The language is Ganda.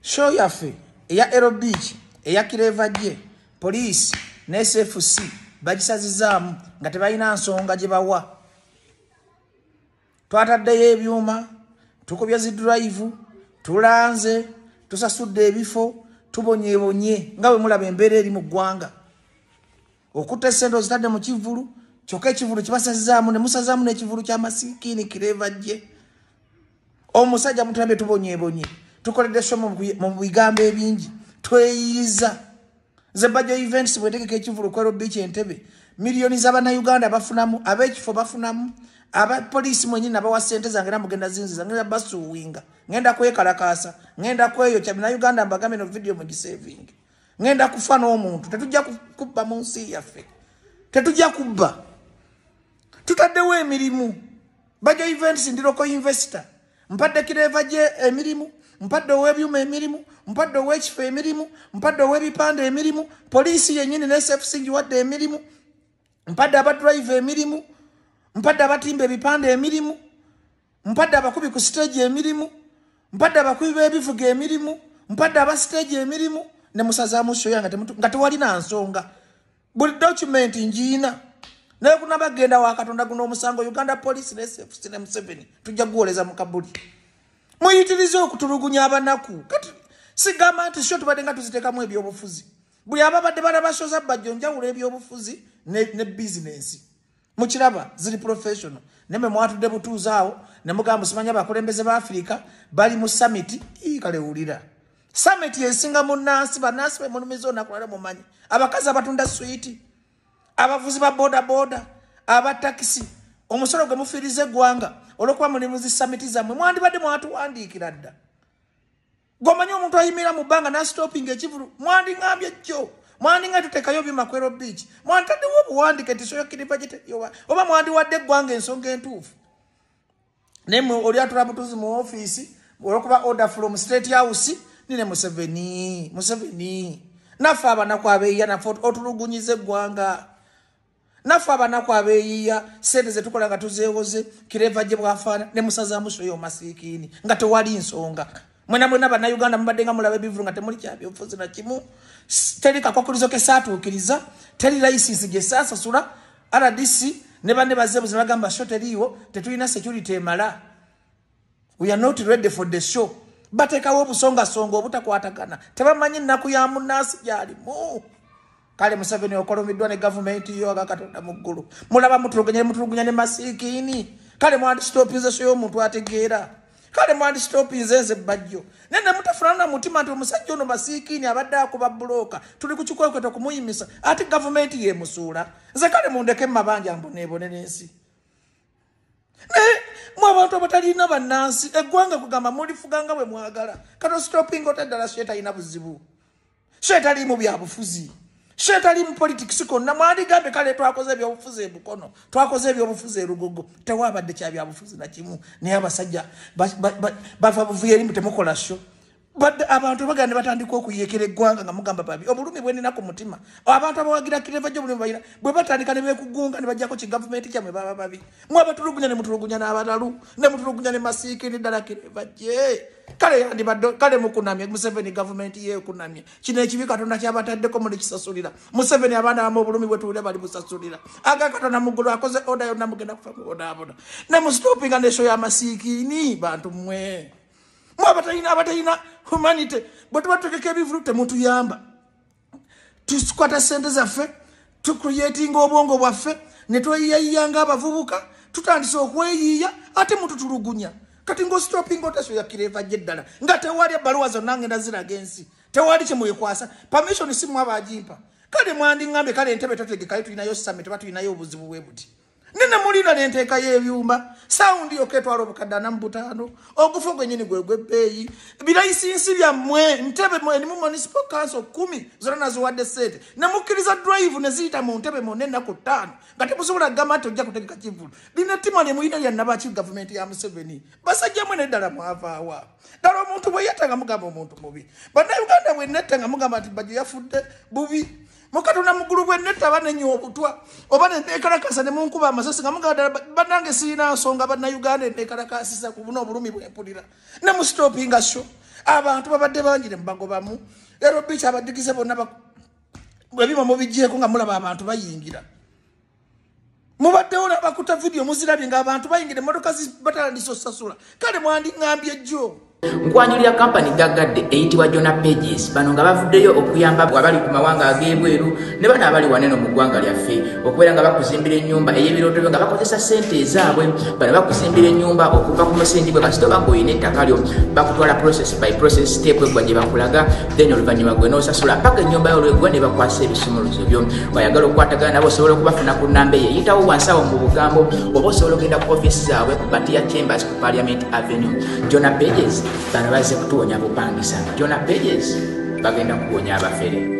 show yaffe eya erobic eya kireva gye poliisi ne sfc bagisazizaamu nga tebalina nsonga gye bawa twataddeyo ebyuma tukubya zidurayivu tulanze tusasudde ebifo tubonyebonye nga bwe mulaba embeera eri mu ggwanga okutta esente ozitadde mu kivulu kyokka ekivulu kibasazizaamu ne musazaamu n'ekivulu ky'amasikiini kireva gye omusajja mutulabye tubonyebonye tukoledde somo mu bigambo ebingi tweyiyiza zebajo events bwetegeka ekivulu kwero biiki entebe miliyoni zabanauganda bafunamu abekifo bafunamu abapoliisi mwenyini nabawa sente zange era mugenda zinziza ngenda basuwinga ngenda kwekalakaasa ngenda kweyokya binauganda mbagambe no vidiyo mugisevinge ngenda kufa n'omuntu tetujja kubba mu nsi yaffe tetujja kubba tutaddewo emirimu bajo events ndiroko investor mpadde kireva gye emirimu mpadde owebyuma emirimu mpadde owekifo emirimu mpadde owebipande emirimu poliisi yenyini nesfc ngiwadde emirimu mpadde abadrive emirimu mpadde abatimba ebipande emirimu mpadde abakubi ku siteegi emirimu mpadde abakubi b'ebivuga emirimu mpadde aba siteegi emirimu ne musazaamu shoya nga tewalina nsonga buli document njiina naye kunaba genda wa katonda guno omusango uganda police nesefusine museveni tujja guwoleza mu kabuli muyitiriza okutulugunya abanaku kati sigamba nti sio tubadde nga tuziteekamu ebyobufuzi buli ababadde balabasoza bajjo njawulo ebyobufuzi ne, ne bizinensi mukiraba ziri professional naye mwe mwatudde butuuzi awo ne mugamba simanya abakulembeze ba afirika bali mu samiti kale wulira samiti yesinga munnansi bannansi be mulumiza onakulala mumanyi abakazi abatunda switi abavuzi ba bodaboda aba takisi omusolo gwe mufiiriza eggwanga olwokuba muli muzi samiti zammwe mwandibadde mwatuwandiikira dda Gomanyi omuntu ayimira mu banga na stopping ekivulu mwandi ngambye kyo mwandi nga tutekayo bi makwero beach mwandi tadde wo buwandi kati soyo kilipa jete yowa oba mwandi wadde gwanga ensonga entuufu ne mu oli atura butuzi mu office olokuba order from state house nine museveni museveni nafa abana kwa beya na fort otulugunyize gwanga naffe abanaku abeyiya sente zetukola nga tuzewoze kireva gye bwafaana ne musazamuso yo masikiini nga tewali nsonga mwena mwena banauganda mubadde nga mulaba ebivulu nga temuli kyabyobufuzi na kimu teri kakwakulizo ke saatuukiriza teri layisinsi gye saasasula rdc ne banne bazeebuzi bagamba sho teriiwo tetulina security emala we are not ready for the show batekawo obusongasonga obutakwatagana tebamanyi nnaku ya munaasi gyalimu kale museveni okolomiddwa ne gavumenti yo aga katonda mu ggulu mulaba mutulugunya mutulugunya ne masiikiini kale mwandisitopinze so y'omuntu ategeera kale mwandisitopinze nze bajjo naye ne mutafunana na mutima nti omusajja ono masiikiini abadde akuba bulooka tuli ku kikwekweto okumuyimisa ate gavumenti yemusuula nze kale mundeke mu mabanja mboneebone n'ensi naye mu abantu abatalina bannansi eggwanga kugamba mulifuga nga bwe mwagala kato sitopinga oteddala so etalina buzibu so etaliimu byabufuzi so etaliimu politics konna mwandigambye kale twakoze ebyobufuzi ebukono twakoze ebyobufuzi erugogo tewabadde kyabyabufuzi nakimu naye abasajja bava buvuyo erimu temukola sho But abantu bagana ne batandika okuyekera eggwanga nga mugamba babi obulumi bwenina ku mutima abantu abawagira kireva gyo bulumi balina bwe batandika ne beekugunga ne bajjako ki gavumenti kyamwe baba babi mwe abatulugunya ne mutulugunya n'abalalu ne mutulugunya ne masiiki ne ddala kireva gye kale yandibadde kale mukunamye museveni gavumenti yeekunamye kino ekibi katonda kyabataddeko muli kisasulira museveni abaana bamu obulumi bwe tuwulira bali musasulira aga katonda muggulu akoze oda yonna mugenda kufa mubonaabona ne musitopinga nesho y'amasiikiini bantu mmwe mwe abatalina abatalina humanity bwe tuba tutegeka ebivulu temutuyamba tukwata sente zaffe tucreatinga obwongo bwaffe ne tweyiyayiya nga abavubuka tutandise okweyiiya ate mututulugunya kati ngaositopinga oteso yakira evajja eddala nga tewali ebbaluwa zonna ngenda ziraga ensi tewali kyemwekwasa permission simwaba agimpa kale mwandiŋambye kale entebe totegekayo tulinayo same teba tulinayo obuzibu bwe buti nene mulina nenteeka y'ebyuma sawundi yokka etwala obukadde ana mu butaano ogufa gwenyini gwe gwebbeeyi birayisinsi byammwe ntebe erimu municipal council kumi zona naziwadde ssente ne mukkiriza drive ne ziyita mu ntebe mwonna ennaku ttaano nga temusobola gamba nti ojja kutegeka kivulu lina ttima lye mulina lya nabaki gavumenti ya museveni basajja mwe neddala mwavaawa ddala omuntu bwe yatta nga mugamba omuntu mubi bannayuganda bwe netta nga mugamba nti bajjo yafudde bubi mukatonda mugulu bwe netta banenya obutwa oba nenekalakasa nemunkuba amasasi nga mugadala banange sirina nsonga banauganda enekalakasisa kubuna obulumi bwempulira nemusitopinga sho abantu babadde bangire mubagobamu ero bica abadigize bonna bwebima mubijeko nga mulaba abantu bayingira mubaddewo nabakuta vidiyo muzirabye nga abantu bayingira emotoka batalandiso sasula kale mwandiŋambye jjo nkwanjulira kampani gaggadde eyitibwa jona pages bano nga bavuddeyo okuyamba abali ku mawanga ag'ebweru ne bano abali waneno mu ggwanga lyaffe okubeera nga bakuzimbira ennyumba ey'ebirooto byo nga bakozesa ssente ezaabwe bano bakuzimbira ennyumba okuva ku musingi bwe kasitoba nga olina ettaka lyo bakutwala process by process step eggwa gye bakulaga then oluvannyuma gwe n'osasula mpaka ennyumba yolwegwa ne bakwasa ebisumuluzo byo bayagala okukwatagana nabo osobola okubafuna ku nnamba eyo eyitawo wansawo mu bugambo oba osobola okugenda ku ofiisi zaabwe ku batiya chambers ku parliament avenue jona pages bano bazze kutuwonya bupangisa jona pages bagenda kuwonya abafere